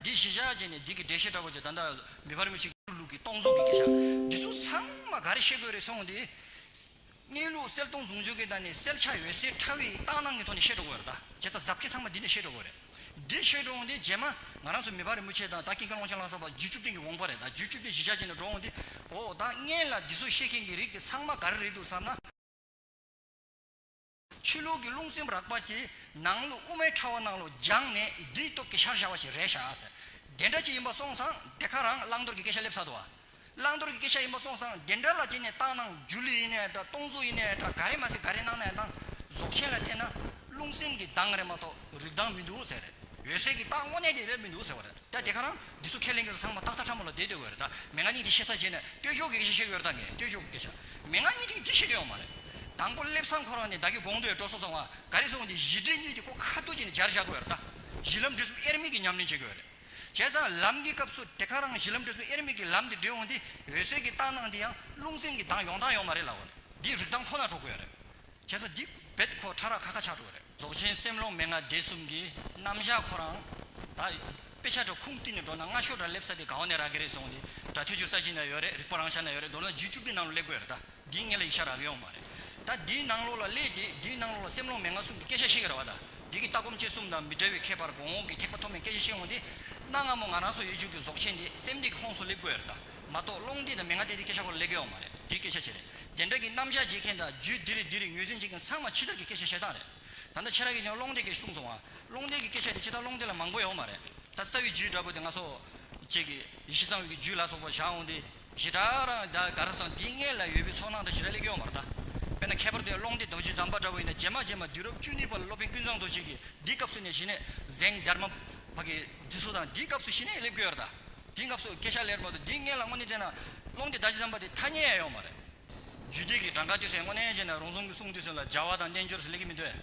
འདི་གཞི་བཞག་ཅིག་ནས་སྡིག་གི་འབྲས་ཤེས་དྲག་པོ་ཅིག་ད་ལྟ་མི་ཕར་མི་ཕྱིན་གྱི་ལུགས་ཀྱིས་སྟོང་གཟུགས་ཀྱི་གེ་བཞག་འདི་ཚོ་ཚང་མ་ག་རེ་ཤེས་དགོས་རེད་སོང་དེ། གནས་ལུགས་གསལ་སྟོང་ཟུང་འཇུག་གི་ནང་ནས་གསལ་ཆ་ཡོད་སའི་ཕྲ་བའི་རྟགས་སྣང་གི་ཐོག་ནས་ཤེས་འགྲོ་དགོས་རེད་ད་བྱས་ཙང་གཟབ་ཁེ་ཚང་མ་འདི་ནས་ཤེས་འགྲོ་དགོས་རེད། འདི་ཤེས་འགྲོ་འོང་དེ་རྗེས་མ་ང་རང་ཚོ་མི་ཕ་རི་མོ་ཆེ་དང་ད་ཀིང་ཀ་ཀློང་ཆེན་ལང་སར་བ་བརྒྱུད་བཅུ་བདུན་གྱི་དབང་པོ་རེད་ད་བརྒྱུད་བཅུ་བདུན་གཞི་བཞག་ཅིག་ནས་འགྲོ་འོང་དེ། འོ་ད་བརྙན་ལ་འདི་ཚོ་ཤེས་མཁན་གྱི་རིགས་དེ་ཚང་མ་ག་རེ་རེད་འདུག་བསམ་ན། ཆུ་ལུག་གི་རླུང་སེམས་རགས་པ་གྱིས་ནང་ལུག་དབུ་མའི་ཕྲ་བ་ནང་ལོགས་སྦྱངས་ནས་བདུད་སྟོབས་ཀྱི་ཤར་བཞག་པ་ཞིག་རེད་ཤག་ཟེར། དེ་འདྲ་ཅིག་ཡིན་པ་སོང་ཙང་དེ་ག་རང་བླང་དོར་གྱི་སྐད་ཆ་སླེབས་ས་འདུག་ཨ། བླང་དོར་གྱི་སྐད་ཆ་ཡིན་པ་སོང་ཙང་དེ་འདྲ་ལ་དེ་ནས་བཏང་གནང་སྒྱུ་ལུས་ཡིན་ནའི་འདྲ་སྟོང་གཟུགས་ཡིན་ནའི་འདྲ་ག་རེ་མ་ཟེར་ག་རེ་གནང་ནའི་གནང། རྫོགས་ཆེན་ལ་བལྟས་ན་རླུང་སེམས་ཀྱི་གདངས་རེད་མ་གཏོགས་རིགས་གདངས་མི་འདུག་ཟེར། འོད་གསལ་གྱི་གདངས་དངོས་གནས་དེ་རེད་མི་འདུག་ཟེར་བ་རེད། ད་དེ་ག་རང་འདི་ཚོ་ཁས་ལེན་གི་ར་ཚང་མ་ཏག་ཏག་ཕྲ་མོ་ལ་བསྡད་སྡོད་དགོས་རེད་ད་མེ་ང་གཉིས་འདི་བཤད་ས་བྱས་ནས་སྟོད་ཕྱོགས་ཀྱི་སྐད་ཆ་བཤད་གི་ཡོད་རེད་ད་ངས་སྟོད་ཕྱོགས་ཀྱི་སྐད་ཆ་མེ་ང་གཉིས་འདི་འདི་བཤད་དོན་ཡོང་མ་རེད། དང་པོ་སླེབས་སང་ཁོ་རང་ནས་བདག་གི་དགོངས་དོན་སྤྲོ་སོང་ཙང་བ་ག་རེ་སོང་འདི་གཞི་འབྲེལ་གཉིས་འདི་ཀོ་ཁ་བསྡུ་བྱས་ནས་སྦྱར་བཞག་གི་ཡོད་རེད་ད། གཞི་ལམ་འབྲས་གསུམ་དབྱེར་མེད་ཀྱི་ཉམས་ལེན་བྱེད་གི་ཡོད་རེད། བྱས་ཙང་ལམ་འདི་སྐབས་སུ་དེ་ག་རང་གཞི་ལམ་འབྲས་གསུམ་དབྱེར་མེད་ཀྱི་ལམ་འདི་འབྲེལ་འོང་འདི་འོད་གསལ་གྱི་རྟགས་སྣང་འདི་ཡང་རླུང་སེམས་ཀྱི་གདངས་ཡོང་སྟངས་ཡོང་མ་རེད་ལ་འོ་རེད་འདི་རིག་སྟངས་ཁོ་ན་གྲོགས་གི་ཡོད་རེད། ཁྱེད་ཚོ་འདི་བེད་ཁོ་ཁྲ་ར་ཁ་ཁ་ཆགས་འགྲོ་གི་རེད། རྫོགས་ཆེན་སེམས་ཀློང་མན་ངག་སྡེ་གསུམ་གྱི་རྣམ་བཞག་ཁོ་རང་ད་དཔེ་ཆ་འདྲ་ཁུངས་བསྟུན་ནས་འགྲོ་ན་སྔ་ཤོར་འདྲ་སླེབས་ས་དེ་གང་བ་ནས་རག་གི་རེད་སོང་དེ་འདྲ་ཐོས་རྒྱུ་ས་གཞི་ན་ཡོད་རེད་རིག་པ་རང་ཤར་ན་ཡོད་རེད་མདོར་ན་རྒྱུད་བཅུ་པའི་ནང་ལོ་སླེབས་དགོས་རེད་ད་འདིའི་ངེད་ལ་ཡིག་ཆ་རག་གི་ཡོང་མ་རེད་ད་འདིའི་ནང་ལོ་ལ་སླེ་དེ་འདིའི་ནང་ལོ་ལ་སེམས་ཀློང་མན་ངག་གསུམ་གྱི་སྐད་ཆ་བཤད་གི་ར་བ་ད་འདི་གི་ལྟ་སྒོམ་སྤྱད་གསུམ་དང་མི་འདྲ་བའི་ཁྱད་པར་གོང་འོག་གི་ཐེག་པ་ཐོབ་མེད་སྐད་ཆ་བཤད་འོང་དེ་གནའ་སྔ་མོ་ང་རང་སོགས་ཡུལ་ཆོས་ཀྱི་རྫོགས་ཆེན་དེ་སེམས་གཏད་ཀྱི་ཁོངས་སུ་སླེབས་དགོས་རེད་ད། མ་གཏོགས་སློང་དེ་དང་མི་ང་དེ་དེ་སྐད་ཆ་སྐོར་ལས་བརྒལ་བ་མ་རེད་དེ་སྐད་ཆ་ཅི་རེད་དེ་འདྲ་གི་རྣམ་གཞག་བྱེད་མཁན་དང་རྒྱུད་འདི་རེད་འདི་རེད་ངོས་ཟིན་བྱེད་མཁན་ཚང་མ་ཕྱི་དར་གི་སྐད་ཆ་བཤད་སྟངས་རེད་ད་ལྟ་ཁྱེད་རང་གིས་ཀྱང་སློང་དེ་སྐད་གསུངས་སོང་ང་སློང་དེ་གི་སྐད་ཆ་དེ་ཕྱི་དར་སློང་དེ་ལ་མང་པོ་ཡོད་མ་རེད་ད་རྩ་བའི་རྒྱུད་འདྲ་པོ་དེ་ང་སོག་བཅས་གི་ཡེ་ཤེས་གཙང་བའི་གི་རྒྱུད་ལ་སོག་པ་བཞག་འོང་དེ་ཞེ་དྲག་རང་ད་ག་ར་ཚང་འདི་ངེད་ལ་ཡོད་པའི་ཚོགས་ནང་དང་ཞེ་དྲག་ལས་བརྒལ་བ་མ་རེད་ད་དཔེར་ན་ཁྱད་པར་དུ་ཡང་སློང་དེ་བདག་རྒྱུད་ཛམ་བྷ་འདྲ་པོ་ཡིན་ན་རྗེས་མ་རྗེས་མ་དུས་རབས་བཅུ་གཉིས་པ་ལ་སློབ་དཔོན་ཀུན་བཟང་རྡོ་རྗེ་གིས་འདི་སྐབས་སུ་ནས་ཞི་གནས་གཟེངས་རྒྱར་མ་བག་གི་འདི་སོ་དང་འདི་སྐབས་སུ་ཞི་གནས་ལས་བརྒལ་བ་རེད་ད། དེའི་སྐབས་སུ་ཀེ་ཤ་ལེར་བར་དུ་སྡིག་བསྔལ་ལ་དངོས་གནས་བྱས་ན། ཀློང་དེ་བདག་གཅིག་བསམ་པ་དེ་ཐ་སྙད་ཡང་ཡོད་མ་རེད། རྒྱུད་སྡེ་གི་གྲངས་ཀ་དུས་ཚོད་དངོས་གནས་བྱས་ན་རང་བཟུང་གི་གསུང་དུས་ཚོད་ལ་སྦྱར་བ་དང་བསྟན་འགྱུར་ཟེར་ལེགས་ཀྱི་མི་འདོད།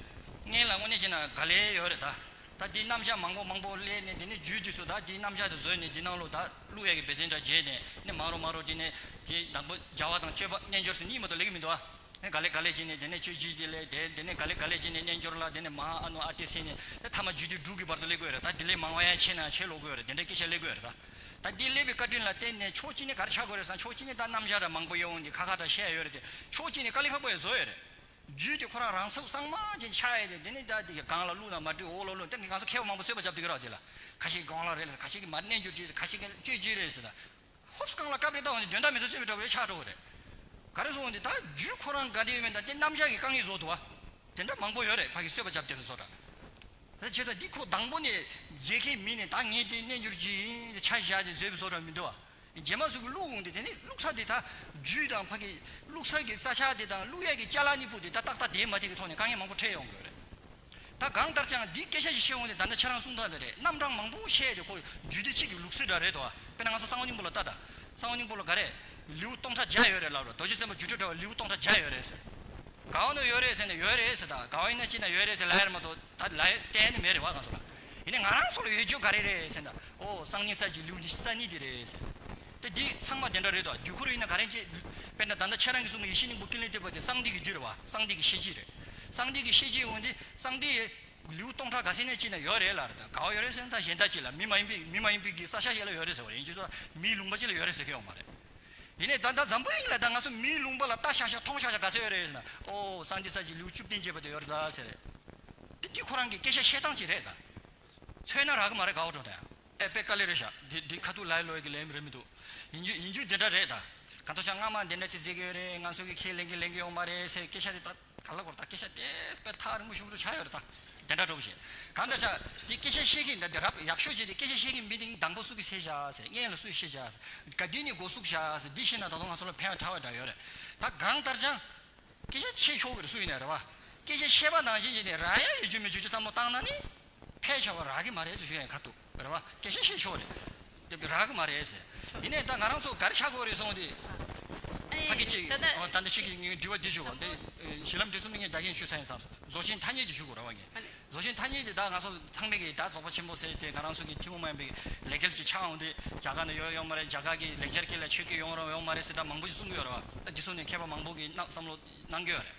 བསྔལ་ལ་དངོས་གནས་བྱས་ན་ག་ལེ་ཡོད་རེད་ད། ད་དེའི་རྣམ་གཞག་མང་པོ་མང་པོ་གླས་ནས་དེ་ནས་རྒྱུའི་དུས་སུ་ད་དེའི་རྣམ་གཞག་དེ་བཟོས་ནས་དེའི་ནང་ལོ་ད་ཀླུ་ཡས་ཀྱི་བེ་ཙན་དྲ་རྒྱས་ནས་ནི་མང་རོ་མང་རོ་དེ་ནས་དེའི་བདག་པོ་སྦྱར་བ་དང་སྤྱོད་པ་བསྟན་འགྱུར་སུ་གཉིས་མོ་ད་ལེགས་ཀྱི་མི་འདུག་ཨ། ནས་ག་ལེ་ག་ལེ་བྱས་ནས་དེ་ནས་ཆོས་བྱས་ཏེ་ལས་དེ་དེ་ནས་ག་ལེ་ག་ལེ་བྱས་ནས་རྣལ་འབྱོར་ལ་དེ་ནས་མ་ཧཱ་ཨ་ནུ་ཨ་ཏི་སེ་ནས་ད་ཐ་མ་རྒྱུད་སྡེ་དྲུག་གི་བར་དུ་ཀླས་དགོས་རེད་ད་དེ་ལས་མང་བ་ཡང་ཆེས་ན་ཆེས་ཀློག་དགོས་རེད་དེ་འདྲའི་སྐད་ཆ་ཀླས་དགོས་རེད་ད་ད་འདི་ཀླས་པའི་བཀའ་དྲིན་ལ་བརྟེན་ནས་ཕྱོགས་གཅིག་ནས་གར་ཆག་དགོས་རེད་བསམ་ཕྱོགས་གཅིག་ནས་ད་རྣམ་གཞག་འདྲ་མང་པོ་ཡེ་འོང་གི་ཁ་ཁ་འདྲ་བཤད་ཡོད་རེད་དེ་ཕྱོགས་གཅིག་ནས་ཀ་ལེ་ཁག་པོ་ཡང་བཟོ་ཡོད་རེད་རྒྱུད་སྡེ་ཁོ་རང་རང་སུག་གསང་མང་ཅན་ཆགས་ཡོད་དེ་དེ་ནས་ད་དེ་ག་གང་ལ་བླུགས་ན་མ་འགྲིག་འོག་ལ་བླུགས་ན་ད་གང་ས་མཁས་པ་མང་པོ་གསོད་པ་བྱ་བདུག་གི་རོགས་དེ་ལ་ཁ་ཤས་གང་ལ་རེད་ལ་ཁ་ཤས་ཀྱིས་མར་རྣལ་འབྱོར་བྱས་ཟེར་ཁ་ཤས་ཀྱིས་ལ་གཅོད་བྱས་རེད་ཟེར་ད་ཧོབ་ས་གང་ལ་བཀའ་དཔེ་བཏགས་བ་ནི་དོན་དག་མི་ཚོགས་ཚེ་བའི་དྲ་བའི་ཆགས་གྲོགས་རེད། ག་རེ་བཟོ་འོང་དེ་ད་རྒྱུས་ཁོ་རང་དགའ་བདེའི་དབེན་ད་དེ་རྣམ་གཞག་གི་རྐང་ཡིག་བཟོ་འདུག་བ། དེ་འདྲ་མང་པོ་ཡོད་རེད་ཕ་གིས་གསོད་པ་བྱབ་དེ་རུ་བཟོ་གྲྭ། ད་བྱས་ད་འདི་ཁོ་དང་པོ་ནས་མཇལ་ཁའི་མི་ནས་ད་ངས་དེ་གནས་འགྱུར་གྱིས་ད་ཆ་བཞག་དེ་བཟོས་པའི་བཟོ་གྲྭ་མི་འདུག་བ། རྗེས་མ་སུ་གིས་བླུགས་འོང་དེ་དེ་ནི་བླུགས་ས་དེ་ད་རྒྱུས་དང་ཕ་གིས་བླུགས་ས་གི་ས་ཆ་དེ་དང་བླུགས་ཡས་ཀྱི་ལྕགས་ལ་ནི་སྤུ་དེ་ད་ཏག་ཏག་དེའི་མ་དེ་གི་ཐོག་ནས་དཀའ་ངལ་མང་པོ་འཕྲད་ཡོང་གི་ཡོད་རེད། ད་གང་ལྟར་ཅང་འདིའི་སྐད་ཆ་ཞིག་བཤད་འོང་ནས་ད་ནི་ཁྱེད་རང་གསུང་ཐག་དེ་རེད་རྣམ་གྲངས་མང་པོ་བཤད་དེ་ཁོ་རྒྱུད་སྡེ་གཅིག་གི་ལུགས་སྲོལ་འདྲ་རེད་དོ། དཔེར་ན་ང་ཚོ་གསང་བ་སྙིང་པོ་ལ་ལྟ་ད། གསང་བ་སྙིང་པོ་ལ་ག་རེད། ལེའུ་སྟོང་ཕྲག་བརྒྱ་ཡོད་རེད་ལབ་རོ་རྡོ་རྗེ་སེམས་དཔའ་རྒྱུད་གྲྭ་འདྲ་བ་ལེའུ་སྟོང་ཕྲག་བརྒྱ་ཡོད་རེད་ཟེར། ག་བ་ནོ་ཡོད་རེད་ཟེར་ནས་ཡོད་རེད་ཟེར་ད་ག་བ་ཡིན་ན་ཅི་ན་ཡོད་རེད་ཟེར་ལ་ཡར་མ་དོ་ད་ལ་ཡོད་གཏན་ནས་མེད་རེད་བ་ག་ཚོ་ལ། ཡིན་ནས་ང་རང་ཚོ་ལ་ཡོད་རྒྱུ་ག་རེ་རེད་ཟེར་ད་ཨོ་སང་ཉིན་གསར་གྱི་ལེའུ་འདི་གསར་རྙིང་འདི་རེད་ཟེར། དེ་འདི་ཚང་མ་དེ་འདྲ་རེད་དོ་རྒྱུ་ཁུར་ཡིན་ན་ག་རེ་བྱེད། དཔེར་ན་ད་ལྟ་ཁྱེད་རང་གི་གསུང་གི་ཡེ་ཤེས་སྙིང་པོ་ཀུན་ལས་བཏུས་པ་དེ་གསང་འདུས་ཀྱི་རྒྱུད་རེད་བ་གསང་འདུས་ཀྱི་ཤེས་བྱེད་རེད། གསང་འདུས་ཀྱི་ཤེས་བྱེད་འོན་ཏེ་གསང་འདུས་ཡེ། ལེའུ་སྟོང་ཕྲག་ག་ཚད་ནས་བྱེད་ན་ཡོད་རེད་ལར་ད་ག་བ་ཡོད་རེད་ཟེར་ན་ད་གཞན་དག་བྱེད་ལ་མི་མ་ཡིན་པས་མི་མ་ཡིན་པས་ཀྱི་ས་ཆ་བྱེད་ལ་ཡོད་རེད་ཟེར་བ་རེད་ཡིན་གྱི་ད་མིའི་ལུང་པ་བྱེད་ལ་ཡོད་རེད་ཟེར་མཁན་ཡོད་མ་རེད། དེ་ནས་ད་ད་འཛམ་བུ་གླིང་ལ་ད་ང་ཚོ་མིའི་ལུང་པ་ལ་ལྟ་ཤག་ཤག་མཐོང་ཤག་ཤག་ག་ཚད་ཡོད་རེད་ཟེར་ན་ཨོ་གསང་འདུས་ས་ཀྱི་ལེའུ་བཅུ་བདུན་བྱེད་པ་དེ་ཡོད་རེད་ད་ཟེར་རེད། དེ་དེ་ཁོ་རང་གི་སྐད་ཆ་བཤད་སྟངས་གཅིག་རེད་ད། མཚོན་ན་རག་གི་མ་རེད་ག་བ་བྲོ་ད་ཡང། ཨེ་པེ་ཀ་ལེ་རེད་ཤག་འདི་འདི་ཁ་ཐུག་ལའི་ལོའི་གི་ལས་མི་རེད་མི་འདུག་ཡིན་རྒྱུ་ཡིན་རྒྱུ་དེ་འདྲ་རེད་ད་ག་ཐོ་ཤག་སྔ་མ་འདི་འདྲ་ཅིག་བརྩེ་གི་ཡོད་རེད་ང་ཚོ་གི་ཁས་ལེན་གི་ལེན་གི་ཡོད་མ་རེད་ཟེར་སྐད་ཆ་དེ་ད་ག་ལ་གོ་རེད་ད་སྐད་ཆ་དེ་པས་ཐག་རིང་པོ་ཞུགས་འགྲོ་ཆགས་ཡོད་རེད་ད་དེ་འདྲ་འགྲོ་གི་བྱེད་ག་འདྲ་ཤག་འདི་སྐད་ཆ་བཤད་གི་འདི་འདི་རབ་ཡག་ཤོས་ཅིག་རེད་སྐད་ཆ་བཤད་གི་མི་འདི་མདང་དགོ་སུ་གི་བཤད་ཤག་ཟེར་མངལ་ལ་སུ་ཡི་བཤད་ཤག་ཟེར་ག་འདི་ནི་དགོ་སུག་ཤག་ཟེར་འདི་བཤད་ན་ད་དུང་ང་ཚོ་ལ་ཕན་ཡང་ཐ་བ་འདྲ་ཡོད་རེད་ད་གང་ལྟར་ཅང་སྐད་ཆ་འཆད་ཆོག་གི་རེད་སུ་ཡིན་ནས་རེད་བ་སྐད་ཆ་བཤད་པ་ནང་བཞིན་བྱས་ནས་ར་ཡ་ཡོད་རྒྱུ་མེད་རྒྱུ་ཅི་ཙམ་མོ་བཏང་ན་ནི། ཕས་ཆོག་པ་རག་གི་མ་རེད་ཟེར་ཞུ་ཡ་ཡིན་ཁ་ཐུག་རེད་བ་སྐད་ཆ་བཤད་ཆོག་རེད་དེ་བས་རག་གི་མ་རེད་ཟེར་ཡིན་ནས་ད་ང་རང་ཚོ་ག་རེ་བྱ་དགོས་རེད་སོང་དེ། ཕ་གི་གཅིག་ད་ལྟ་ཕྱི་གི་ངའི་འདྲི་བ་འདི་ཞུ་གོ་འདི་གཞི་ལམ་འདི་ཚོ་མི་ངན་རྒྱ་རྒན་ཞུ་ས་ཡིན་ཙང་རྫོགས་ཆེན་ཐ་སྙད་ཀྱི་ཞུ་དགོས་ར་བ་ངས་རྫོགས་ཆེན་ཐ་སྙད་དེ་ད་ང་ཚོ་ཚང་མི་གི་ད་རྫོགས་པ་ཆེན་པོ་ཟེར་དེ་ང་རང་ཚོ་གི་ཐི་མོ་མན་པའི་ལས་སྐལ་གྱི་ཆ་འོང་དེ་རྒྱ་གར་ནས་ཡོད་ཡོང་མ་རེད་རྒྱ་གར་གི་ལེགས་སྦྱར་སྐད་ལ་ཆོས་སྐད་ཡོང་རོགས་ཡོང་མ་རེད་ཟེར་ད་མང་པོ་ཞིག་གསུང་གི་ཡོད་ར་བ་ད་འདི་ཚོ་ནས་མཁས་པ་མང་པོ་གི་ནང་བསམ་བློ་གནང་གི་ཡོད་རེད།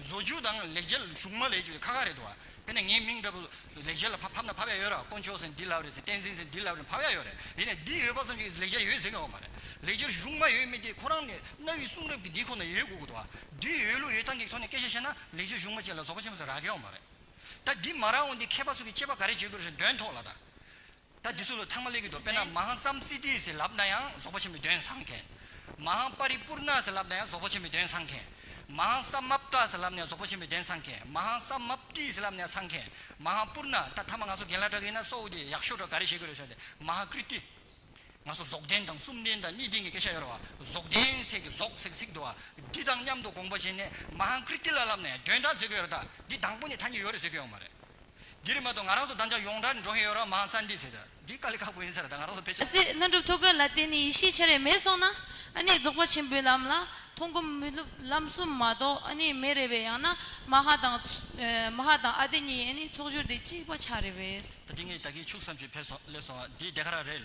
བཟོ་རྒྱུ་དང་ལེགས་སྦྱར་གཞུང་མ་ལས་ཀྱི་ཁ་ཁ་རེད་དོ། དེ་ནས་ངའི་མིང་འདྲ་པོ་ལེགས་སྦྱར་ལ་ཕབ་ན་ཕབ་ཡ་ཡོད་ར་དཀོན་མཆོག་ཟེར་འདི་ལབ་རེད་ཟེར་བསྟན་འཛིན་ཟེར་འདི་ལབ་རེད་ཕབ་ཡ་ཡོད་རེད་དེ་ནས་འདི་ཡོད་པ་ཙམ་གྱིས་ལེགས་སྦྱར་ཡོད་ཟེར་ནི་འོག་མ་རེད་ལེགས་སྦྱར་གཞུང་མ་ཡོད་མེད་དེ་ཁོ་རང་ནས་གནའ་བོའི་གསུང་རབ་ཀྱི་འདི་ཁོ་ན་ཡོད་དགོས་དགོས་དོ། འདི་ཡོད་ལུགས་ཡོད་སྟངས་ཀྱི་ཐོག་ནས་སྐད་ཆ་བཤད་ན་ལེགས་སྦྱར་གཞུང་མ་བཅས་ལ་རྫོགས་པ་ཆེན་པོ་ཟེར་རག་གི་འོག་མ་རེད། ད་འདི་མ་རག་འོན་ཏེ་མཁས་པ་ཚོ་གི་དཔྱད་པ་ག་རེ་བྱེད་དགོས་རེད་ཟེར་འདོན་ཐོག་ལ་ད། ད་འདི་ཚོ་ལ་ཚང་མ་ལེགས་ཀྱི་འདུག་དཔེར་ན་མ་ཧཱ་སམ་སི་ཏི་ཟེར་ལབ་ན་ཡང་རྫོགས་པ་ཆེན་པོའི་དོན་བཟང་མཁན། མ་ཧཱ་པ་རི་པུར་ནཱ་ཟེར་ལབ་ན་ཡང་རྫོགས་པ་ཆེན་པོའི་དོན་བཟང་མཁན། མ་ཧཱ་སམ་མ་པཀྵ་ཟེར་ལབ་ནས་རྫོགས་པ་ཆེན་པོའི་དོན་བཟང་མཁན། མ་ཧཱ་སམ་མ་པཀྵི་ཟེར་ལབ་ནས་བཟང་མཁན། མ་ཧཱ་པུར་ནཱ་ད་ཐ་མ་ང་ཚོ་རྒན་ལགས་འདྲ་གི་ཡིན་ན་སོའུ་དེ་ཡག་ཤོས་འདྲ་ག་རེ་བྱེད་དགོས་རེད་ཟེར་ཏེ་མ་ཧཱ་ཀིར་ཏི། ང་ཚོ་རྫོགས་ལྡན་དང་གསུམ་ལྡན་དང་གཉིས་ལྡན་གྱི་སྐད་ཆ་ཡོད་རེད་བ། རྫོགས་ལྡན་ཟེར་གི་རྫོགས་ཟེར་གི་ཚིག་འདུ་བ། འདི་དང་མཉམ་དུ་དགོངས་པ་བྱས་ནས་མ་ཧཱ་ཀིར་ཏི་ལ་ལབ་ནས་དོན་དག་བརྩད་གི་ཡོད་རེད་ད། འདི་དང་པོ་ནས་ཐ་སྙད་ཡོད་རེད་ཟེར་གི་ཡོད་མ་རེད། འདི་རིག་མ་གཏོགས་ང་རང་ཚོ་བདམས་བྱ་ཡོངས་གྲགས་འགྲོ་ཧེ་ཡོད་རང་མ་ཧང་སང་འདི་ཟེར་ད་འདི་དཀའ་ལས་ཁག་པོ་ཡིན་ཟེར་ད་ང་རང་ཚོ་ཕལ་ཆེར། སྲིད་ལྷུན་གྲུབ་ཐུགས་བཀོད་ལ་བརྟེན་ནས་ཡེ་ཤེས་ཆེ་རེ་མེད་སོང་ན་ཨ་ནི་རྫོགས་པ་ཆེན་པོའི་ལམ་ལ་མཐོང་སྒོམ་དམུས་ལུགས་ལམ་གསུམ་མ་གཏོགས་ཨ་ནི་མེད་རེ་བས་ཡང་ན་མ་ཧ་དང་མ་ཧ་དང་ཨ་ཏི་གཉིས་ཨ་ནི་ཚོགས་སྦྱོར་དེ་གཅིག་པ་ཆགས་རེ་བས། ད་འདི་ངས་ད་གིན་ཕྱུགས་བསམ་ཞིག་ཕལ་སོང་སླེབས་སོང་བ་འདི་བདེ་ག་ར་རེད།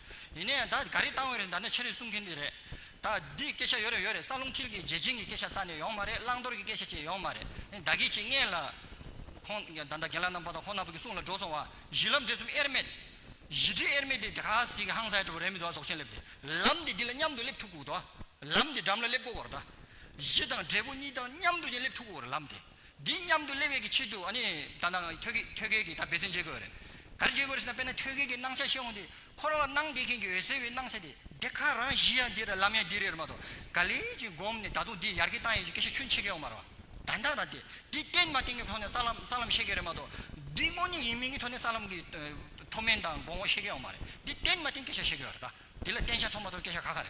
ཡིན་ནའི་ད་ག་རེ་བཏང་བའི་རེད་ད་ནི་ཕྱི་རེ་གསུང་མཁན་དེ་རེད། ད་འདི་སྐད་ཆ་ཡོད་རེད་ཡོད་རེད་ས་རླུང་འཁྱིལ་གི་རྒྱལ་ཆེན་གི་སྐད་ཆ་ས་ནས་ཡོང་མ་རེད་བླང་དོར་གི་སྐད་ཆ་བཅས་ཡོང་མ་རེད་ད་གི་ཆེ་ངས་ལ། ཁོང་ད་ད་རྒན་ལགས་རྣམ་པ་དང་ཁོང་རྣམ་པ་གི་གསུང་ལ་འགྲོ་སོང་བ་གཞི་ལམ་འབྲས་གསུམ་དབྱེར་མེད། གཞི་འབྲས་དབྱེར་མེད་དེ་ག་ཟིག་གི་ཧང་སའི་དྲོ་བ་རེད་མི་འདུག་ཨ་ཟོག་ཆེན་སླེབས་ཏེ་ལམ་འདི་འདི་ལ་མཉམ་དུ་སླེབས་ཐུག་གོ་ལམ་འདི་འགྲམ་ལ་སླེབས་གོ་གོ་རེད་ད། གཞི་དང་འབྲས་བུ་གཉིས་དང་མཉམ་དུ་ཅིང་སླེབས་ཐུག་གོ་རེད་ལམ་དེ། འདི་སྙམ་དུ་གླེང་བའི་ཆེད་དུ་ནི། ད་ནང་ཐོད་རྒལ་གྱི་ད་འབད་བརྩོན་བྱེད་དགོས་རེད། ག་རེ་བྱེད་དགོས་རེད་ཟེར་ན་དཔེར་ན་ཐོད་རྒལ་གྱི་སྣང་ཆ་ཤེས་འོང་དུས་འཁོར་བར་སྣང་བསྡད་མཁན་གྱི་འོད་གསལ་བའི་སྣང་ཆ་དེ། འདི་ག་རང་བཞིན་ཡང་འདི་རེད་ལམ་ཡང་འདི་རེད་མ་གཏོགས་ག་ལས་ཀྱིས་བསྒོམས་ནས་ད་དུང་འདི་ཡར་གྱི་བཏང་ཡོད་ཀྱི་སྐད་ཆ་ཆུ་འཕྱེ་མཁན་ཡོང་མ་རེད། ད་ནང་ན་དེ་འདི་བསྟན་མ་བསྟན་གྱི་ཐོག་ནས་ས་ལམ་ས་ལམ་བཤད་མཁན་རེད་མ་གཏོགས། འདི་དངོས་གནས་ཡིན་མིན་གྱི་ཐོག་ནས་ས་ལམ་གྱི་མཐོ་དམན་དང་དགོངས་བ་བཤད་མཁན་ཡོང་མ་རེད། འདི་བསྟན་མ་བསྟན་སྐད་ཆ་བཤད་དགོས་རེད་ད། འདི་ལ་བསྟན་བྱ་མཐོང་མ་མཐོང་སྐད་ཆ་ག་ག་རེད།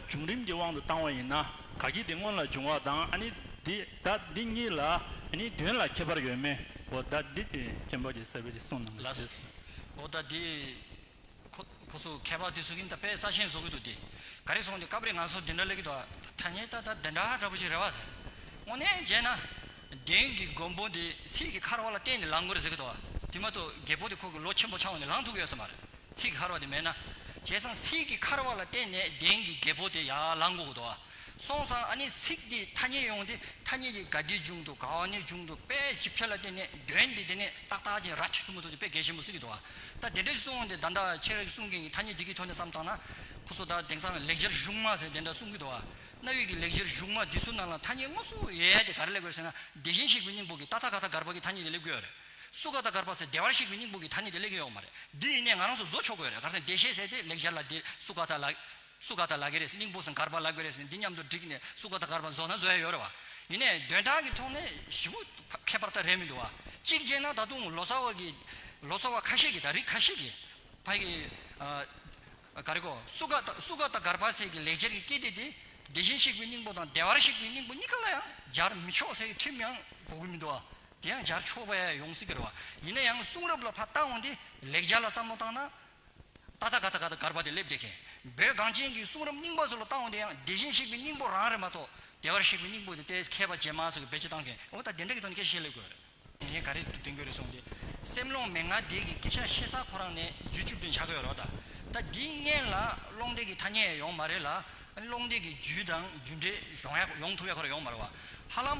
བྱུང་རིམ་གྱི་དབང་དུ་བཏང་བ་ཡིན་ན་ག་གི་དེ་སྔོན་ལ་བྱུང་བ་དང་ཨ་ནི་འདི་ད་འདི་གཉིས་ལ་ཨ་ནི་དོན་ལ་ཁྱད་པར་ཡོད་མེད་འོ་ད་འདི་དེ་སྐྱེན་པ་གྱི་སྲས་པོ་ཞིག་གསུངས་གནང་གི་རེད། འོ་ད་འདི། ཁོ་ཁོ་ཚོ་མཁས་པ་དེ་ཟོ་གིན་ད་དཔེ་ས་ཆེན་བཟོ་གི་འདུག་འདི་ག་རེ་སོང་འདི་སྐབས་རེ་ང་ཚོ་འདི་འདྲ་ལས་གི་འདུག་ཨ་ཐ་སྙད་ད་ད་འདི་འདྲ་འདྲ་པོ་ཞིག་རེད་བ་ཟེར། དངོས་གནས་མཇལ་ན། དེང་གི་མགོན་པོ་འདི་སྲིད་ཀྱི་ཁར་བ་ལ་བརྟེན་ནས་ལངས་དགོས་རེད་ཟེར་གི་འདུག་བ་དེ་མ་གཏོགས་རྒད་པོ་དེ་ཁོ་གི་ལོ་ཆེན་པོ་ཆང་བ་ནས་ལངས་ཐུབ་གི་ཡོད་ས་མ་རེད། ཚིག་ཤར་བ་དེ་མེད་ན། བྱས་ཙང་ཚིག་གི་ཁར་བ་ལ་བརྟེན་ནས་གདན་གྱི་རྒྱལ་པོ་དེ་ཡར་ལངས་དགོས་དོ། སོང་ཙང་ཨ་ནི་ཚིག་དེའི་ཐ་སྙད་ཡོང་སྟེ་ཐ་སྙད་ཀྱི་ག་དེའི་འཇུག་འདུག་ག་བ་ནའི་འཇུག་འདུག་པས་ཞིབ་ཕྲ་ལ་བརྟེན་ནས་དོན་དེ་དེ་ནས་ཏག་ཏག་ཅིང་ར་ཁྱི་ཁྲོ་མོ་ཐུག་ཅིང་དཔེ་གལ་ཆེན་པོ་གཟིགས་ཀྱི་འདུག་ད་དེ་འདྲའི་གསུང་དེ་ད་ལྟ་ཁྱེད་རང་གི་གསུང་མཁན་གྱི་ཐ་སྙད་དེ་གི་ཐོག་ནས་བསམ་བཏང་ན། ཁོ་ཚོ་ད་དེང་སང་ལེགས་སྦྱར་གཞུང་དམངས་ཟེར་དེ་འདྲ་གསུང་གི་འདུག་གནའ་དབུས་ཀྱི་ལེགས་སྦྱར་གཞུང་དམངས་དེ་ཚོའི་ནང་ལ་ཐ་སྙད་དངོས་གཙོ་ཡས་དེ་ག་རེ་སླེབས་དགོས་རེད་ཟེར་ན་དེ་བཞིན་གཤེགས་པའི་སྙིང་པོ་གི་ཏག་ཏག་ག་ས་གར་བ་གི་ཐ་སྙད་དེ་སླེབས་དགོས་ཡོད་རེད། སུ་ག་ད་གར་པ་ཚེ་བདེ་བར་གཤེགས་པའི་སྙིང་པོ་གི་ཐ་སྙད་དེ་གླེང་གི་ཡོག་མ་རེད་འདི་ཡིན་ནས་ང་རང་ཚོ་བཟོ་ཆོག་གི་ཡོག་རེད་གར་སེང་བདེ་གཤེགས་ཟེར་ཏེ་ལེགས་སྦྱར་ལ་འདིར་སུ་ག་ད་ལ། སུ་ག་ད་ལ་གི་རེད་སྙིང་པོ་སུ་གར་པ་ལ་གི་རེད་ཟེར་ནས་འདི་མཉམ་དུ་བསྒྲིགས་ནས་སུ་ག་ད་གར་པ་བཟོ་ན་བཟོ་ཡ་ཡོག་རེད་བ། ཡིན་ནས་དོན་དག་གི་ཐོག་ནས་བཞི་པོ་ཁྱད་པར་ད་རེད་མི་འདུག་བ། གཅིག་བྱས་ན་ད་དུང་ལོ་ཙཱ་བ་གི། ལོ་ཙཱ་བ་ཁ་ཤས་ཀྱི་དང་རིགས་ཁ་ཤས་ཀྱི། བ་གི། ག་རེ་གོ། སུ་ག་ད་སུ་ག་ད་གར་པ་ཟེར་གི་ལེགས་སྦྱར་གྱི་སྐད་དེ་དེ། བདེ་ཞིང་གཤེགས་པའི་སྙིང་པོ་དང་བདེ་བར་གཤེགས་པའི་སྙིང་པོ་གཉིས་ཀ་ལ་ཡང་སྦྱར་མི་ཆོག་ཟེར་གི་ཁྲིམས་ཡང་གོ་གི་མི་འདུག་བ། དེ་ཡང་སྦྱར་ཆོག་པས་ཡོངས་སུ་གྱུར་བ། ཡིན་ན་ཡང་གསུང་རབ་ལ་ཕ་རྟགས་འོང་སྟེ་ལེགས་སྦྱར་ལ་བསམ་བློ་བཏང་ན། ཏཱ་ཐ་ག་ཐ་ག་དང་གར་བ་དེ་སླེབས་བདེ་མཁན། བོད་གངས་ཅན་གྱི་གསུང་རབ་རྙིང་པ་སོགས་ལ་བཏགས་འོང་སྟེ་ཡང་བདེ་ཞིང་གཤེགས་པའི་སྙིང་པོ་རང་རེད་མ་གཏོགས། བདེ་བར་གཤེགས་པའི་སྙིང་པོ་དེ་ལྟའི་མཁས་པ་རྗེས་མ་སོགས་ཀྱིས་བེད་སྤྱོད་བཏང་མཁན་འོ་ད་དེ་འདྲ་གི་ཐོག་ནས་སྐད་བཤད་ལེགས་དགོས། ངས་ག་རེ་དུ་བསྟན་དགོས་རེད་གསུངས་ཏེ། སེམས་ཀློང་མེ་ལྔ་འདས་ཀྱི་སྐད་ཆ་བཤད་ས་ཁོ་རང་ནས་རྒྱུ་བཅུ་བདུན་ཆགས་ཀྱི་ཡོད་རེད་བ་ད། ད་འདི་བརྙན་ལ་ཀློང་འདས་ཀྱི་ཐ་སྙད་ཡོང་མ་རེད་ལ། ཀློང་འདས་ཀྱི་རྒྱུད་དང་རྒྱུད་འགྲེལ་ཡོང་ཡོང་ཐུབ་ཡ་ཁོ་ར་ཡོང་མ་རེད་བ། ཧ་ལམ།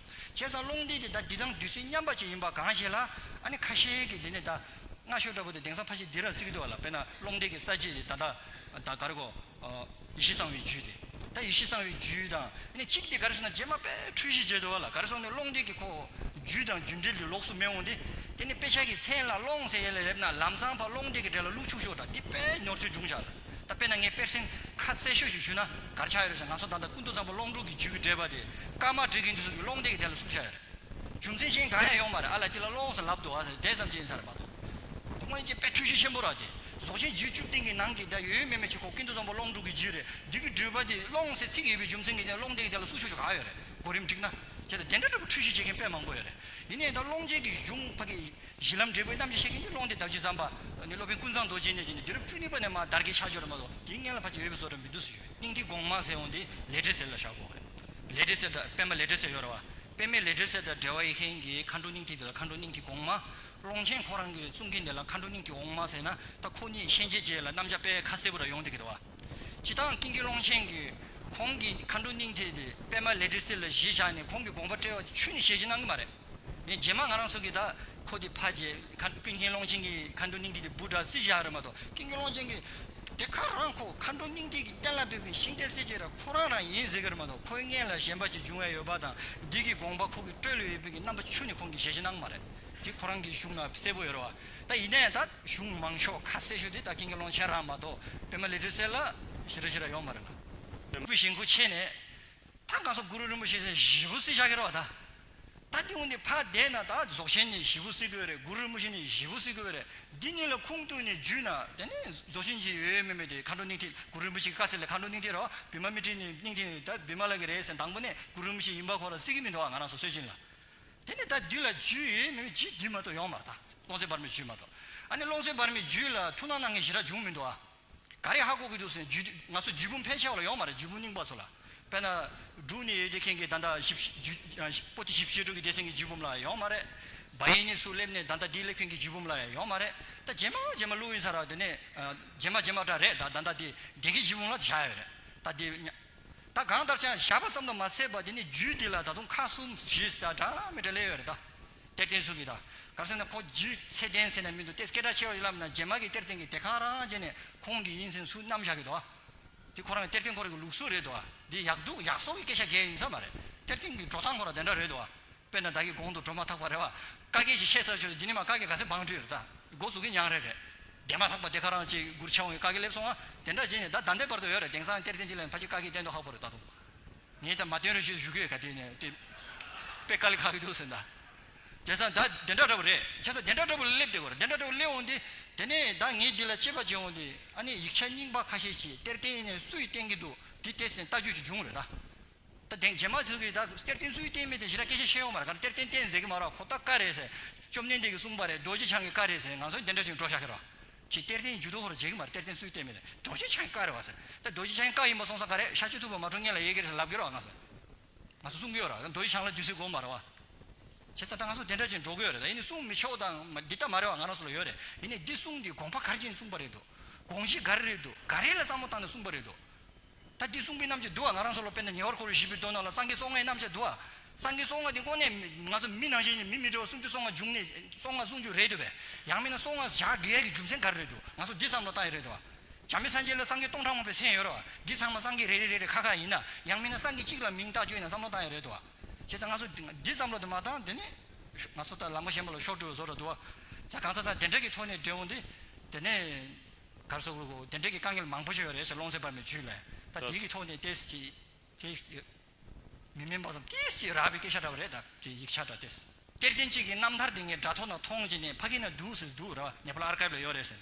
བྱས་ཙང་རླུང་འདི་དེ་ད་འདི་དང་བདུད་རྩི་མཉམ་པ་ཅིག་ཡིན་པ་གང་ཞིག་ལ་ཨ་ནི་ཁ་ཤེ་གི་འདི་ནི་ད་སྔ་ཤོ་ཏྲ་བུ་དེ་དེང་སང་ཕ་ཤི་འདི་ར་བརྩིགས་འདུག་ལ་དཔེར་ན་རླུང་འདི་གི་ས་བཅད་དེ་ད་ད་ད་གར་གོ། ཡེ་ཤེས་གསང་བའི་རྒྱུད་དེ་ད་ཡེ་ཤེས་གསང་བའི་རྒྱུད་དང་ཨ་ནི་གཅིག་དེ་གར་སོང་ན་རྗེས་མ་པས་འཁྲུལ་གཞི་བྱས་འདུག་ལ་གར་སོང་ནས་རླུང་འདི་གི་ཁོ་བོ་རྒྱུད་དང་རྒྱུད་འབྲེལ་དེ་ལོགས་སུ་མེད་འོང་སྟེ་དེ་ནི་དཔེ་ཆ་གི་མཚན་ལ་ཀློང་གསལ་ཡེ་ལ་ཡབ་ན་ལམ་ཚང་བར་རླུང་འདི་གི་འབྲེལ་ལ་ལུག་ཕྱུགས་ཤོ་ཏྲ་འདི་པས་ཉོར་ཚུལ་འབྱུང་བཞག་ལ། ད་དཔེར་ན་ངས་དཔེར་སེང་ཁ་རྩེ་ཤོད་ཅིག་ཞུས་ན་གར་ཆགས་ཡོད་རེད་ཟེར་ང་ཚོ་ད་ལྟ་ཀུན་ཏུ་བཟང་པོ་སློང་ཕྲུག་གི་རྒྱུད་ཀྱི་འགྲེལ་པ་དེ་སྐར་མར་འབྲི་གིན་འདུག་གསུང་རྒྱུ་སློང་སྟེགས་ཀྱི་ཐད་ལ་གསུང་བཤད་ཡོད་རེད། རྒྱུ་མཚན་གཞན་གང་ཡང་ཡོང་མ་རེད་ཨ་ལས་དེ་ལ་སློང་ཟེར་ལབ་འདུག་ཨ་ཟེར་དེ་ཙམ་གྱིས་ཡིན་ས་རེད་མ་གཏོགས། སྔོན་སྐྱེས་དཔེ་འཕྲུལ་ཆས་ཆེན་པོ་རག་དེ་ཟོག་ཆེན་རྒྱུད་བཅུ་སྟེང་གི་ནང་གི་ད་ཡོད་ཡོད་མེད་མེད་བྱེད་ཁོག་ཀུན་ཏུ་བཟང་པོ་སློང་ཕྲུག་གི་རྒྱུད་རེད་འདུག་གི་འགྲུལ་པ་དེ་སློང་ཟེར་ཚིག་ཡོད་པའི་རྒྱུ་མཚན་གྱི་ཐད་ལ་སློང་སྟེགས་ཀྱི་ཐད་ལ་གསུང་ཤོད་ཤོད་ག་ཡོད་རེད་གོ་རིམ་འགྲིག་ན། བྱས་ཙང་དེ་འདྲ་འདྲ་པོ་འཕྲུལ་ཆས་བྱེད་མཁན་དཔེ་མང་པོ་ཡོད་རེད་ཡིན་ནའི་ད་སློང་བྱེད་ཀྱི་གཞུང་ཕ་གི། གཞི་ལམ་འབྲས་བུའི་རྣམ་བཞི་ཤེས་མཁན་གྱི་ཀློང་དེ་བདག་རྒྱུད་ཛམྦྷ། སློབ་དཔོན་ཀུན་བཟང་རྡོ་རྗེ་ནས་བྱས་ནས་དུས་རབས་བཅུ་གཉིས་པ་ནས་མ་དར་གྱི་ཆ་སྦྱོར་མ་གཏོགས་དེའི་སྔན་ལ་ཕར་ཆེར་ཡོད་པའི་བཟོ་གྲྭ་མི་འདུག་སུ་ཡོད་སྙིང་ཐིག་དགོངས་མང་གསལ་འོང་དེ་ལས་འབྲས་གསལ་ལ་བཞག་གོ། ལས་འབྲས་གསལ་དང་པདྨ་ལས་འབྲས་གསལ་ཡོད་རེད་བ། པདྨས་ལས་འབྲས་གསལ་དང་འབྲེལ་བ་ཡོད་མཁན་གྱི་མཁའ་འགྲོ་སྙིང་ཐིག་དེ་ལ་མཁའ་འགྲོ་སྙིང་ཐིག་དགོངས་མང། ཀློང་ཆེན་ཁོང་རང་གིས་གསུང་མཁན་དེ་ལ་མཁའ་འགྲོ་སྙིང་ཐིག་དགོངས་མང་ཟེར་ན་ད་ཁོ་གཉིས་ཤན་འབྱེད་བྱས་ལ་རྣམ་གཞག་པས་ཁ་གསལ་པོ་ར་ཡོང་དེ་གི་རེད་བ། སྤྱི་དང་ཀིང་གི་ཀློང་ཆེན་གྱིས་ཁོང་གི་མཁའ་འགྲོ་སྙིང་ཐིག་དེ་པདྨ་ལས་འབྲས་གསལ་ལ་གཞི་བཞག་ནས་ཁོང་གི་དགོངས་པ་བཀྲལ་བ་དེ་ཆུ་ནི་ཞལ་གྱིས་གནང་གི་མ་རེད། ངས་རྗེས་མ་ང་རང་སོགས་ཀྱིས་ད་ཁོ་དེ་ཕ་རྗེས་མཁའ་འགྲོ་ཀུན་མཁྱེན་ཀློང་ཆེན་གྱི་མཁའ་འགྲོ་སྙིང་ཏིག་དེ་སྦུར་དྲག་རྩི་བཞག་རེད་མ་གཏོགས་ཀུན་མཁྱེན་ཀློང་ཆེན་གྱི་དེ་ག་རང་ཁོ་མཁའ་འགྲོ་སྙིང་ཏིག་གི་གཏན་ལ་འབེབས་མཁན་ཤིང་རྟའི་སྲས་ཅེས་ར་ཁོ་རང་རང་ཡིན་ཟེར་གི་རེད་མ་གཏོགས་ཁོའི་མངལ་ལ་གཞན་པ་ཅིག་འབྱུང་བའི་ཡོད་པ་དང་འདི་གི་དགོངས་པ་ཁོ་གི་སྤྲོད་ལོས་ཡོད་པའི་གི་རྣམ་པ་ཆུ་ནི་ཁོང་གི་ཞལ་ཞེ་སྣང་མ་རེད་དེ་ཁོ་རང་གི་གཞུང་ན་གསལ་པོ་ཡོད་རེད་བ་ད་ཡིན་ནའི་ད་གཞུང་མང་ཤོག་ཁ་གསལ་ཤོས་དེ་ད་ཀུན་མཁྱེན་ཀློང་ཆེན་རང་མ་གཏོགས་སྤེན་མ་ལི་ཁྲི་སེར་ལ་ཞེ་ར་ཞེ་ར་ཡོང་མ་རེད་ལ། སྤེན་པོའི་ཞེན་ཁོ་ཆེ་ནས། ཐང་ག་སོགས་གུ་རུ་རིན་པོ་ཆེ་ཚེ་བཞི་བོ་སྲིད་ཆགས་ཀྱི་རོ་ད། ད་ཏི་ཧུ་འདི་ཕ་འདས་ན་ད་རྫོགས་ཆེན་ནི་བཞི་བོ་སྲིད་དགོས་རེད་གུ་རུ་རིན་པོ་ཆེ་ནི་བཞི་བོ་སྲིད་དགོས་རེད་འདི་གཉིས་ལ་ཁུངས་གཏུགས་ནས་འཇུས་ན་དེ་ནས་རྫོགས་ཆེན་གྱི་ཡོད་ཡོད་མེད་མེད་དེ་མཁའ་འགྲོ་གནིང་ཐིག་གུ་རུ་རིན་པོ་ཆེ་གི་བཀའ་ཚིག་ལས་མཁའ་འགྲོ་གནིང་ཐིག་རོ་བི་མ་མི་ཏྲི་ནི་གནིང་ཐིག་ནི་ད་བི་མ་ལ་གི་རེད་ཟེར་དང་པོ་ནས་གུ་རུ་རིན་པོ་ཆེ་ཡིན་པ་ཁོ་ལ་སྲིད་ཀྱི་མི་འདུག་ཨ་ང་རང་སོ་སོའི་སྦྱིན་ལ། དེ་ནས་ད་འདི་ལ་འཇུས་ཡོད་ཡོད་མེད་མེད་ཇི་འདི་མ་གཏོགས་ཡོང་མ་ད་ཀློང་གསལ་བར་མའི་འཇུས་མ་གཏོགས་ཨ་ནི་ཀློང་གསལ་བར་མའི་འཇུས་ལ་ཐུགས་སྣང་གནང་མཁན་ཞི་དྲག་འབྱུང་མི་འདུག་ཨ། ག་རེ་ཧ་གོ་གི་འདུག་ཟེར་ནས་རྒྱུད་ང་ཚོ་རྒྱུད་བུམ་ཕལ་ཆེ་བ་ལ་ཡོང་མ་རེད་རྒྱུད་བུམ་རྙིང་པ་ཚོ་ལ། དཔེར་ན། འབྲུག་ནས་ཡོད་དེ་མཁན་གྱི་བདག་མདའ་ཞིབ་རྒྱུད་པོ་ཏི་ཞིབ་བཤེར་དྲུག་གི་སྡེ་ཚན་གྱི་རྒྱུད་བུམ་ལ་ཡང་ཡོང་མ་རེད། བ་ཡན་ནས་སུ་སླེབས་ནས་བདག་མདའ་བདེ་ལེགས་མཁན་གྱི་རྒྱུད་བུམ་ལ་ཡང་ཡོང་མ་རེད། ད་རྗེས་མ་རྗེས་མ་བློ་ཡིན་ས་ར་དེ་ནས། རྗེས་མ་རྗེས་མ་འདྲ་རེད་ད་བདག་མདའ་བདེ་ལེགས་ཀྱི་རྒྱུད་བུམ་ལ་བཞག་ཡོད་རེད། ད་དེ། ད་གང་ལྟར་ཅང་བཞག་པ་ཙམ་དུ་མ་ཟད་པ་དེ་ནི་རྒྱུད་འདི་ལ་ད་དུང་ཁག་གསུམ་བཞི་ཟེར་གྲངས་མེད་དྲ་ལེ་ཡོད་རེད་དཱ། གཏེར་བརྟེན་སུ་གི་ད་གར་སོང་ནས་ཁོ་རྒྱུད་ཚད་ལྡན་ཟེར་ནས་མི་འདུག་སྟེ་སྐད་གྲགས་ཆེ་བ་ཡིན་ལབ་ན་རྗེས་མ་གི་གཏེར་བརྟེན་གི་སྡེ་ཁག་རང་རང་བྱས་ནས་ཁོང་གི་ཡིན་ཟེར་སུ་རྣམ་བཞག་གི་དཱ། དེ་ཁོ་རང་གི་གཏེར་བརྟེན་ཁོ་རང་གི་ལུགས་སྲོལ་རེད་དཱ། འདི་ཡག་སྡུག་ཡག་སོགས་ཀི་སྐད་ཆ་འགས་ཡིན་ས་མ་རེད། གཏེར་བརྟེན་གི་འགྲོ་སྟངས་ཁོ་རང་དེ་འདྲ་རེད་དཱ། དཔེར་ན་བདག་གི་གོང་དུ་འགྲོ་མ་ཐག་པ་རེད་བ། ཀ་རྒས་ཞེས་བཤད་ས་ཆོད་འདི་ནི་མ་ཀ་རྒས་ག་ཚད་འབངས་བྲིས་རེད་ད། མགོ་ཟུག་གི་མྱངས་རེད་རེད། རྒས་མ་ཐག་པ་དེ་ཁ་རང་ཅེས་གུར་ཕྱེ་འོང་གི་ཀ་རྒས་སླེབས་སོང་ང། དེ་འདྲ་བྱས་ནས་ད་ད་ལྟའི་བར་དུ་ཡོད་རེད་དེང་སང་གཏེར་ཚན་གཅིག་ལ་ཕ་གཅིག་ཀ་རྒས་བསྟན་འདུག་ཧ་གོ་རེད་ད་དུང། ངས་ད་མ་བསྟན་རོགས་ཞུས་ཞུ་གི་ཡོད་ག་དེ་ནས་དེ། དཔེ་ཀ་ལི་ཁ་གི་འདུག་ཟེར་ད། དེང་སང་ད་དེ་འདྲ་འདྲ་པོ་རེད་བྱས་ས་དེ་འདྲ་འདྲ་པོ་ལ་སླེབས་བསྡད་གོ་རེད་དེ་འདྲ་འདྲ་པོ་སླེབས་འོང་སྟེ། དེ་ནས་ད་ངས་འདི་ལ་དཔྱད་པ་བྱས་འོང་སྟེ་ཨ་ནེ་ཡིག་ཆ་རྙིང་པ་ཁ་ཤས་ཀྱིས་གཏེར་བསྟན་ནས་སུ་ཡིས་བསྟན་གི་འདུག་འདི་བལྟས་ཟིན་ལྟ་རྒྱུ་ཞིག་བྱུང་རེད་ད། ད་དེང་རྗེས་མ་ཚོས་གིས་ད་གཏེར་བསྟན་ཚུལ་བསྟན་མི་བསྟན་ཞེ་ན་སྐད་ཆ་བཤད་ཡོང་མ་རེད་ག་རེ་གཏེར་བསྟན་བསྟན་ཟེར་གི་མ་རེད་ཁོ་ཐག་ཀ་རེད་ཟེར། བཅོམ་ལྡན་འདས་ཀྱིས་གསུངས་པ་རེད་རྡོ་རྗེ་འཆང་གིས་ཀ་རེད་ཟེར་ང་ཚོ་འདི་འདྲ་ཞིག་འགྲོ་བཞག་གི་རེད། ཁྱེད་གཏེར་བསྟན་ཇུས་གཏོགས་ཧོར་བྱེད་གི་མ་རེད་གཏེར་བསྟན་ཚུལ་བསྟན་མི་བསྟན་རྡོ་རྗེ་འཆང་གིས་ཀ་རེད་བ་ཟེར། ད་རྡོ་རྗེ་འཆང་གིས་ཀ་ཡིན་པ་གསུངས་ས་ག་རེད་ཤར་ཆོས་ཐུབ་པ་མ་གྲོངས་ངེད་ལ་ཡི་གེ་རེད་ཟེར་ལབ་གི་རེད་བ་ང་ཚོས། ང་ཚོ་གསུང་གི་ཡོད་རེད་རྡོ་རྗེ་འཆང་ལ་བདུད་སྲིན་གོ་མ་རེད་བ། བྱས་ཙང་ད་ང་ཚོ་འདི་འདྲ་ཅིག་འགྲོ་གི་ཡོད་རེད་ད་ཡིན་ནའི་གསུང་མི་ཆོག་དང་འདི་ལྟ་མ་རེད་བ་ང་རང་ཚོ་ལ་ཡོད་རེད་ཡིན་ནའི་འདི་གསུང་འདི་དགོངས་པ་གར་བྱས་ནས་གསུངས་པ་རེད་དོ། དགོངས་གཞི་ག་རེ་རེད་དོ་ག་རེ་ལ་བསམ་བློ་བཏང་ནས་གསུངས་པ་རེད་དོ། ད་དེའི་གསུང་པོད་རྣམ་བཅད་བསྡུ་བ་ང་རང་སོགས་ལོ་པཎ་དང་ཉེ་བར་འཁོར་བའི་བཞི་པོའི་མདོ་རྣམས་ལ་སངས་རྒྱས་སྲོག་སྔགས་རྣམ་བཅད་བསྡུ་བ། སངས་རྒྱས་སྲོག་སྔགས་དེ་ཁོ་ནས་ང་ཚོ་མི་ནང་བཞིན་གྱི་མི་མི་འདྲ་བ་སུམ་ཅུ་སོ་ལྔ་འབྱུང་གནས་སོ་ལྔ་ཟུང་འཇུག་རེད་འདོད་པས། ཡང་མིན་ན་སོ་ལྔ་ཞག་དགེ་བའི་གྱི་རྒྱུ་མཚན་ག་རེ་རེད་འདུག་ང་ཚོ་འདི་ཙམ་ལ་བཏགས་ཡོད་རེད་འདུག་བྱམས་མེད་སངས་རྒྱས་ལོ་སངས་རྒྱས་སྟོང་ཕྲག་མང་པོའི་མཚན་ཡོད་རེད་བ་འདི་ཚང་མ་སངས་རྒྱས་རེ་རེ་རེ་རེ་ཁ་ཁ་ཡིན་ན་ཡང་མིན་ན་སངས་རྒྱས་གཅིག་ལ་མིང་བཏགས་བཅོས་ཡིན་ན་བསམ་བློ་བཏང་ཡོད་རེད་འདུག་བ། བྱས་ཙང་ང་ཚོ་འདི་ཙམ་ལོ་དེ་མ་བཏང་དེ་ནས་ཤོག་ང་ཚོ་ལྟར་ལམ་ཁ་ཞན་པ་ལ་ཤོག་དྲིལ་བ་བཟོ་ར་འདུག་བ། བྱས་གང་ཚར་ཚར་དེ་འདྲ་གི་ཐོག་ནས་འབྲེལ་འོང་དེ་དེ་ནས། གར་སོགས་ཀྱི་དེ་འབྲེལ་གྱི་དཀའ་ངལ་མང་པོ་ཞིག་ཡོད་རེད་ཟེར་ཀློང་གསལ་པར་མའི་བཅུད་ལས་ད་དེ་གི་ཐོག་ནས་ཏེ་སི་ཏེ་སི། མི་སྨན་པ་ཙམ་ཏེ་སི་རག་པའི་སྐད་ཆ་འདྲ་བ་རེད་ད་དེ་ཡིག་ཆ་འདྲ་ཏེ་སི། གཏེར་ཆེན་གཅིག་གི་རྣམ་ཐར་དེ་ངས་དྲ་ཐོག་ན་མཐོང་བྱས་ནས་ཕ་གི་ན་འདུག་ཟེར་འདུག་ར་བ་ནེ་པ་ལ་ཨར་ཀའིབ་ལ་ཡོད་རེད་ཟེར།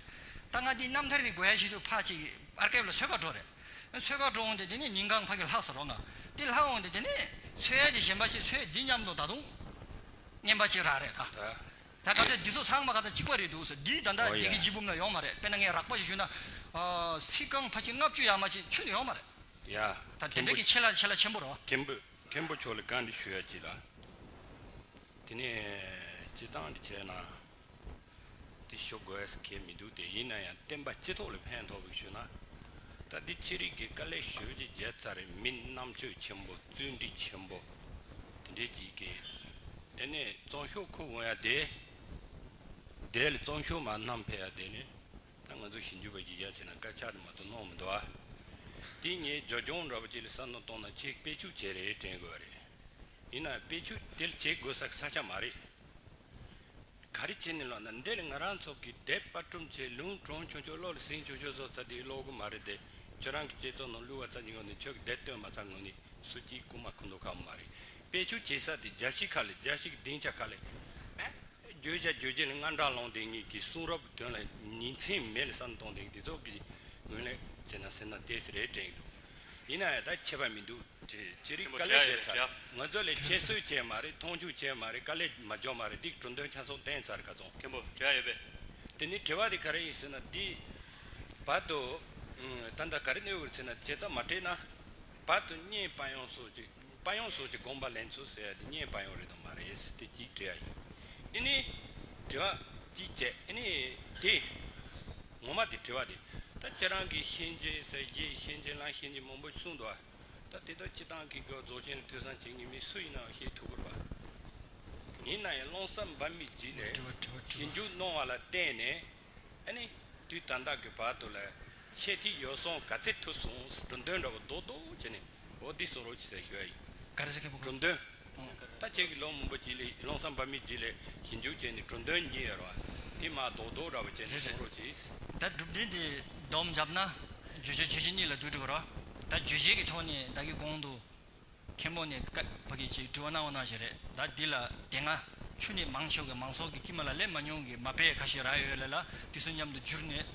ད་ང་དེའི་རྣམ་ཐར་གི་དགོས་ཡ་ཞིག་འདུག་ཕ་གཅིག་གི་ཨར་ཀའིབ་ལ་ཚོད་དཀར་འགྲོ་རེད། ཚོད་དཀར་འགྲོ་འོང་སྟེ་དེ་ནས་ཉིན་གང་ཕ་གི་ལྷག་སར་རོགས་ན། དེ་ལྷག་འོང་སྟེ་དེ་ནས་ཚོད་ཡ་དེ་གཞན་པ་ཞིག་ཚོད་འདི་སྙམ་དུ་ད་དུང། སྙན་པ་ཅིག་རག་རེད་ད། ད་ག་ཚད་འདི་ཚོ་ཚང་མ་ག་ཚད་གཅིག་པ་རེད་འདུག་ཟེར་འདིའི་ད་འདའ་བརྒྱད་ཀྱི་འཇིགས་བུམ་ན་ཡོང་མ་རེད་དཔེར་ན་ངས་རག་པ་ཞིག་ཞུས་ན། ཚིག་རྐང་ཕ་ཆེ་ལྔ་བཅུ་ཡག་མ་བྱེད་ཆོད་ནི་ཡོང་མ་རེད། ཡ། ད་དེ་འདྲ་གི་ཆེ་ལ་ཆེ་ལ་ཆེན་པོ་རོ། མཁན་པོ་མཁན་པོ་ཆོག་ལ་གང་འདི་ཞུ་ཡ་ཅི་ལ། དེ་ནས་སྤྱི་བཏང་འདི་བྱས་ན། འདི་ཞུ་དགོས་གལ་མི་འདུག་སྟེ་ཡིན་ན་ཡང་བསྟན་པ་སྤྱི་ཐོག་ལ་ཕན་ཐོག་པའི་ཞུ་ན། ད་འདི་ཅི་རིགས་ཀྱི་དཀའ་ལས་ཞུ་རྒྱུ་བརྒྱད་རྩ་རེད་མི་རྣམ་དཔྱོད་ཆེན་པོ་བརྩོན་འགྲུས་ཆེན་པོ། འདྲེ་གཅིག་གི། དེ་ནས་གཙང་ཤོག་ཁུ་འོང་ཡ་དེ། དེ་ལས་གཙང་ཤོག་མ་རྣམས་འཕེལ་ཡ་དེ་ནི། ད་ང་ཚོ་ཞིབ་འཇུག་པ་བརྒྱུད་རྒྱ་ཆེ་ན་སྐད་ཆ་དུ་མ་དུ་སྣང་མི་འདུག་ཨ། དེ་ངས་ཇོ་སྐྱོང་ར་བ་ཅིག་ལ་ས་ནོར་གཏོང་ན་ཁྱེད་དཔེ་ཆུ་བྱེད་རེ་དྲན་དགོས་བ་རེད། ཡིན་ནའང་དཔེ་ཆུ་དེ་ལ་བྱེད་དགོས་ས་ས་ཆ་མ་རེད། ག་རེ་བྱེད་ནས་ལོག་ན་འདི་ལ་ང་རང་ཚོ་གི་དད་པ་སྐྲུམ་ཆེད་ལུང་གྲོང་ཆུང་ཆུང་གློག་ལ་ཟིང་ཆུང་ཆུང་བཟོ་ཚ་དེ་གློག་གུ་མ་རེད་དེ་ཁྱོད་རང་གི་བསྐྱེད་རྫོགས་ནང་བླུ་བ་ཚ་ཉིན་གོང་ནས་ཁྱོད་ཀྱི་དད་བསྟོད་མ་ཚ་ངོ་ནི། སུ་སྐྱིད་རྐུ་མ་ཁུ་མདོ་ཁ་མ་རེད། དཔེ་ཆོས་བྱེད་ས་དེ་རྒྱ་ཕྱི་ཁ་ལས་རྒྱ་ཕྱི་གི་སྡིངས་ཆ་ཁ་ལས། བརྗོད་བྱ་བརྗོད་བྱེད་ལ་སྔར་འདྲ་ལོང་དེ་གཉིས་ཀྱི་གསུང་རབ་ཀྱི་དོན་ལ་ཉིན་མཚན་མེད་ལ་བསམ་གཏོང་དེ་དེ་ཚོ་གི་ངོས་ལེན་བྱེད་ན་ཟེར་ན་དེ་རེད་དྲན་གྱི་འདུག་ཡིན་ན་ཡང་ད་ཁྱད་པར་མི་འདུག་ཅེ་རིག་དཀའ་ལས་བྱས་ཚར་ང་ཚོ་ལས་ཁྱད་གསོད་བྱས་མ་རེད་མཐོང་ཆུང་བྱས་མ་རེད་དཀའ་ལས་མ་འཇོག་མ་རེད་སྡིག་གྲུབ་འདོན་ཆ་སོགས་བསྟན་ཚར་ག་ཚོང། དེ་ནས་དྲི་བ་དེ་ག་རེ་ཡིན་ཟེར་ན་དེའི་བར་དུ་ད་ལྟ་ག་རེ་གནས་འོས་ཟེར་ན་བྱས་ཙང་མ་སྤྲད་ན་བར་དུ་བསྙེན་དཔའ་ཡོངས་སོགས་ཀྱི་དཔའ་ཡོངས་སོགས་ཀྱི་དགོངས་པ་ལེན་ཚུལ་ཟེར་ཡ་འདི་བསྙེན་དཔའ་ཡོངས་རེད་དམ་མ་རེད་ཟེར་དེ་གཅིག་དྲི་ཡ་ཡིན། ཨེ་ནི། དྲི་བ། གཅིག་བཅས་ཨེ་ནི། དེ། ངོ་མ་དེ་དྲི་བ་དེ། ད་ཁྱེད་རང་གིས་གཤིན་རྗེ་ཟེར་གཞི་གཤིན་རྗེ་ལ་གཤིན་རྗེ་མང་པོ་གསུངས་འདུག་ཨ། ད་དེ་དག་སྤྱི་བཏང་གི་དགོས་རྫོགས་ཆེན་རེ་ཐོས་བསམ་བྱེད་ངེས་མིན་སུ་ཡིན་ནའང་ཤེས་ཐུབ་དགོས་པ། ཡིན་ནའི་བློང་བསམ་འབར་མི་བགྱིད་ལས། ཞིབ་འཇུག་གནང་བ་ལ་བརྟེན་ནས་ཨ་ནི། དུས་ད་ལྟ་གི་བར་དུ་ལ། ཆེས་ཐིག་ཡོད་སོང་ག་ཚད་ཐུག་སོང་ཟེར་གྲུ་འདོན་འདྲ་བོ་རྡོག་རྡོག་བྱས་ནས་འོ་འདི་སོང་རོགས་གྱིས་ཟེར་ཞུ་ཡ་ཡིན། གྲུ་འདོན། ད་ཁྱེད་ཀྱི་ལོ་མང་པོ་གྱིས་ལས་ཀློང་སམ་བར་མིས་གྱིས་ལས་ཞིབ་འཇུག་བྱས་ནས་གྲུ་འདོན་གཉིས་ཡོད་ར་བ་དེ་མ་རྡོག་རྡོག་འདྲ་བོ་བྱས་ནས་སོང་རོགས་གྱིས། ད་སྒྲུབ་འབྲིང་དེ་བསྡོམས་བརྒྱབ་ན། བརྗོད་བྱ་ཁྱད་ཆོས་གཉིས་ལ་བསྡུ་དགྲོ་གི་ར་བ། ད་བརྗོད་བྱེད་ཀྱི་ཐོག་ནས་བདག་གི་གོང་དུ། མཁན་པོ་ནས་ཀ་བ་གི་ཅེས་དྲི་བ་གནང་བ་གནང་བཞིན་རེད་ད་འདི་ལ་དེ་སྔ་ཆུ་ནི་མང་ཆེ་བ་གི་མང་ཚོགས་ཀྱི་སྐྱི་མ་ལ་ལས་མ་མྱོང་གི་མ་དཔེ་ཁ་ཤས་རག་ཡོད་ལེ་ལ་དེ་ཚོ་མཉམ་དུ་བསྒྱུར་ནས་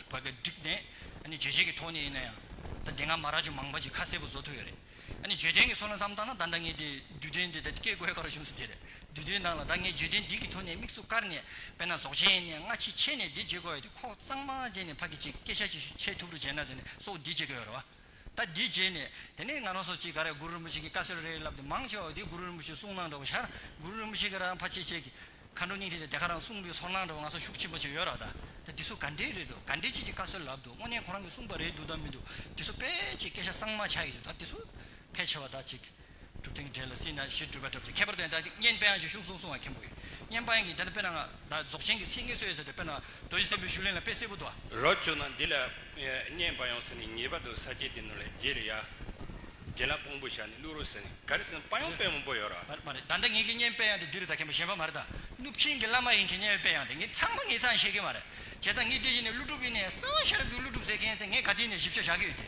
ཀ་བ་གི་བསྒྲིགས་ནས་ཨ་ནི་བརྗོད་བྱེད་ཀྱི་ཐོག་ནས་ཡིན་ན་ཡང་ད་འདི་སྔ་མ་རག་ཆུ་མང་བ་ཅིག་ཁ་གསལ་པོ་བཟོ་ཐུབ་ཡོད་རེད་ཨ་ནི་བརྗོད་དོན་གྱི་སོ་ལ་མཚམས་བཏང་ན་ད་ད་ངས་དེ་བསྡུས་དོན་འདི་ད་སྐད་བཀོད་ཁ་རོག་གཞུང་སུ་དེ་རེད་བསྡུས་དོན་ནང་ལ་ད་ངས་བརྗོད་དོན་འདི་གི་ཐོག་ནས་དམིགས་སུ་བཀར་ནས་དཔེར་ན་ཟོག་ཆེན་ནས་སྔ་ཕྱི་ཕྱེས་ནས་འདི་བརྗོད་དགོས་ཡོད་དེ་ཁོག་གཙང་མ་བཅད་ནས་ཕ་གི་ཅེས་སྐད་ཆ་ཅིག་ཤོས་འཆད་ཐུབ་རུ་བྱས་ན་ཟེར་ནས་སོགས་འདི་བརྗོད་ཀྱི་ཡོད་རེད་བ། ད་འདི་བརྗེད་ནས་དེ་ནས་ང་རང་སོགས་ཀྱིས་ག་རེ་གུ་རུ་རིན་པོ་ཆེ་གིས་བཀའ་སྩོལ་རེ་རེ་ལབ་སྟེ་མང་ཆེ་བ་འདི་གུ་རུ་རིན་པོ་ཆེའི་གསུང་གནང་འདྲ་བོ་ཤར་གུ་རུ་རིན་པོ་ཆེ་གི་རང་ཕ་ཆེ་བཅས་ཀྱི། མཁའ་འགྲོ་སྙིང་ཐིག་དང་དེ་ག་རང་གསུང་པའི་ཚོར་སྣང་འདྲ་བོ་ང་སོགས་ཤུགས་ཆེན་པོ་ཅིག་ཡོད་རག་གདའ། ད་འདི་ཚོ་ག་འདྲའི་རེད་འདུག་ག་འདྲའི་ཆེད་ཀྱི་བཀའ་སྩོལ་ལབ་འདུག་དངོས་གནས་ཁོ་རང་གིས་གསུང་པ་རེད་འདུག་དང་མི་འདུག་འདི་ཚོ་དཔེ་ཆའི་སྐད་ཆ་གཙང་མ་ཆགས་ཡོད་འདུག་ད་འདི་ཚོ། ཕལ་ཆེ་བ་དག་ཅིག། གྲུབ་དེང་བྲལ་ལ་སྲིད་ན་གཞིར་གྲུབ་པ་གྲབས་ཚེ་ཁྱད་པར་དོན་དག་གིས་བསྙེན་དཔལ་དབྱངས་ཀྱི་གཞུང་གསུང་གསུང་བ་མཁན་པོ་ཡི་བསྙེན་དཔལ་གྱིས་དེ་ལྟར་དཔེར་ན་ང་བདག་རྫོགས་ཆེན་གྱི་ཚིག་ངེས་སུ་ཡོད་ཟེར་བའི་དཔེར་ན་རྡོ་རྗེ་སྲིན་པོའི་བཞུགས་གླིང་ལ་དཔེ་གསལ་པོ་བདོ་བ། རོ་བཅུག་ན་འདི་ལ་བསྙེན་པ་ཡང་ཟིན་ནས་ངེས་པར་དུ་ས་བཅད་དེ་ནོར་ལ་རྗེས་ལ་ཡར་དགེ་ལ་དཔང་པོ་བྱ་ནས་བླུག་རོགས་ཟེར་ནས་ག་རེ་ཟིན་ན་དཔའ་ཡང་དཔའི་མོ་པོ་ཡོད་ར། མ་རེད་ད་ལྟ་ངེད་ཀྱི་བསྙེན་དཔལ་དབྱངས་དེ་འདི་རུ་ད་མཁན་པོ་གཞན་པ་མ་རེད་ད། གནུབས་ཆེན་གྱི་བླ་མ་ཡིན་མཁན་བསྙེན་དཔལ་དབྱངས་དེ་ངེད་ཚང་མ་ངེད་ཚང་ཤེས་ཀྱི་མ་རེད། བྱས་ཙང་ངེད་དེ་བཞིན་ནས་ཀླུ་སྒྲུབ་ཡིན་ནས་གསང་བ་ཤ་རབ་ཀྱི་ཀླུ་སྒྲུབ་ཟེར་མཁན་ཟེར་ངེད་ག་དུས་ནས་ཞིབ་ཆ་བཞག་གི་ཡོད་དེ།